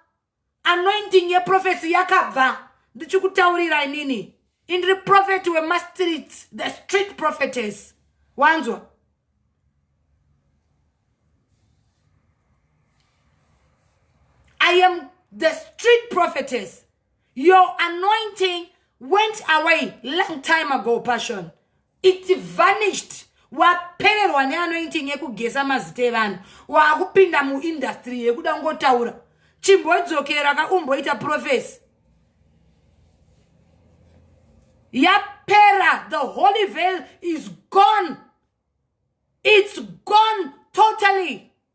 anointing yeprofesi yakabva ndichikutaurira inini indiri profeti wemastreet the street prophetes wanzwa i am the street prophetess your anointing went away long time ago passion it vanished wapererwa neanointing yekugesa mazita evanhu waakupinda muindastry yekuda kungotaura chimbodzokera ka umboita profesi yapera the holy veil is gone its gone totally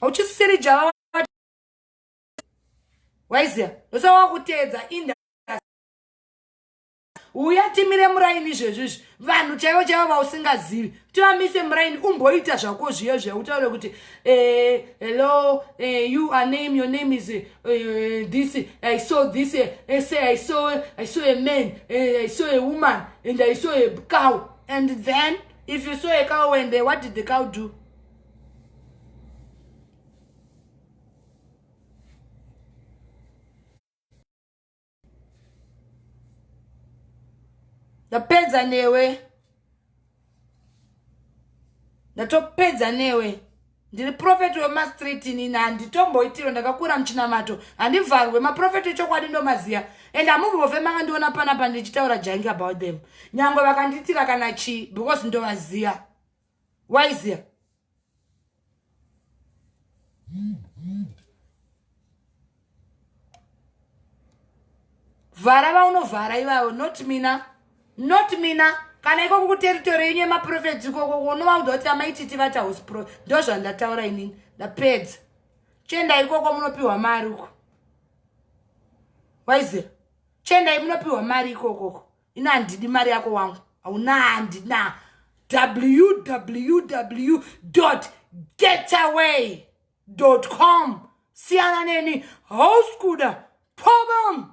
hauchisisiri java waiziva ndosa wakuteedza ind uya timire muraini izvezvi izvi vanhu chaivo chaivo vausingazivi kuti vamise muraini umboita zvako zviyo zviya utaure kuti eh, hello eh, you are name your name is eh, this i saw this say i saw i saw a man i saw a woman and i saw a cow and then if you saw a cow when they what did the cow do ndapedza newe ndatopedza newe ndiri profeti wemastreet inini handitomboitiro ndakakura muchinamato handivharwe maprofeti echokwadi ndomaziya and hamubove makandiona panapa ndichitaura jangi about them nyangwe vakandiitira kana chii because ndovaziya waiziya vhara vaunovhara ivavo not mina not mina kana ikoko kuteritori yenyu yemaprofeti ikoko unovaudza kuti amaititi vati house pro ndo zvandataura inini ndapedza chenda ikoko munopiwa mari uko waizer chendai munopiwa mari ikokoko ino handidi mari yako wangu hauna handina www dot getaway com siyana neni hauskuda problem